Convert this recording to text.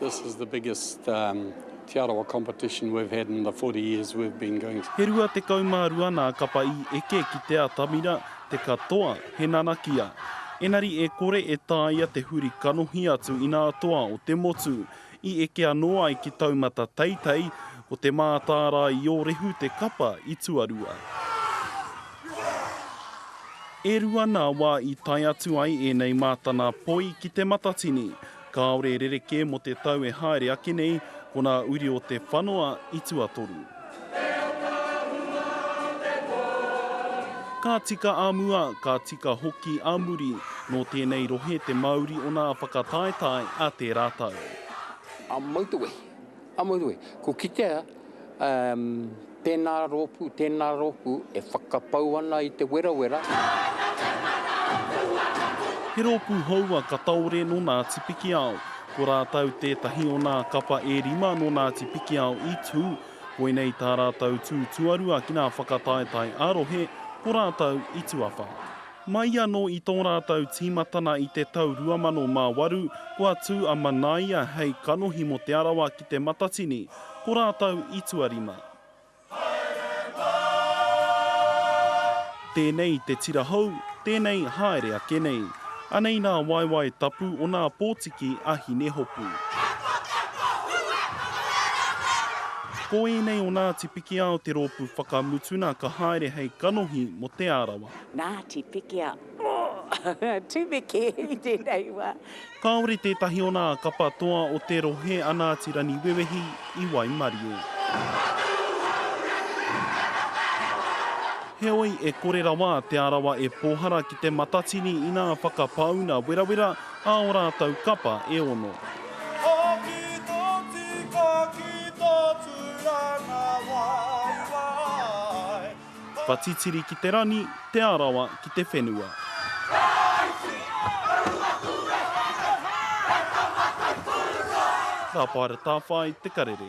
This is the biggest um, Te Arawa competition we've had in the 40 years we've been going. He rua tekau mā rua nā kapa i eke ki te atamira, te katoa, he nanakia. Enari e kore e tāia te huri kanohi atu i nā toa o te motu. I eke anō ai ki taumata teitei, ko te mātāra i ōrehu te kapa i tuarua. E rua nā wā i tae atu ai ēnei mātana poi ki te matatini. Kāore e rerekē mō te tau e haere ake nei, ko nā uri o te whanoa i tuatoru. Ka tika a mua, ka tika hoki a muri, nō tēnei rohe te mauri o nā whakataetae a tērā tau. A Mautewehi. Amarue, ko kitea, um, tēnā rōpū, tēnā rōpū e whakapau ana i te werawera. He rōpū hou a Kataore nō Ngāti Pikiao. Ko rātou tētahi o nā kapa e rima nō Ngāti Pikiao i tū. Koinei tā rātou tū tuarua ki nā whakataetae ā-rohe, ko rātou i tuawha. Mai anō i tō rātou tīmatana i te tau 2008, kua tū a Manaia hei kanohi mō Te Arawa ki Te Matatini, ko rātou i tuarima. Tēnei te tira hou, tēnei haere ake nei. Anei nā waewae tapu o nā pōtiki a Hinehopu. Ko ēnei o Ngāti Pikiao te rōpū whakamutuna ka haere hei kanohi mō Te Arawa. Ngāti Pikia, oh! Tumeke i tēnei wā. Kāore tētahi o nā kapa toa o te rohe a Ngāti Raniwewehi i waimarie. Heoi, e kore rawa Te Arawa e pōhara ki te matatini inā whakapāuna werawera ā o rātou kapa e ono. Hoki tō tika ki tō tūranga waiwai. Kua titiri ki te rangi, Te Arawa ki te whenua. Tāpaeratawhai te karere.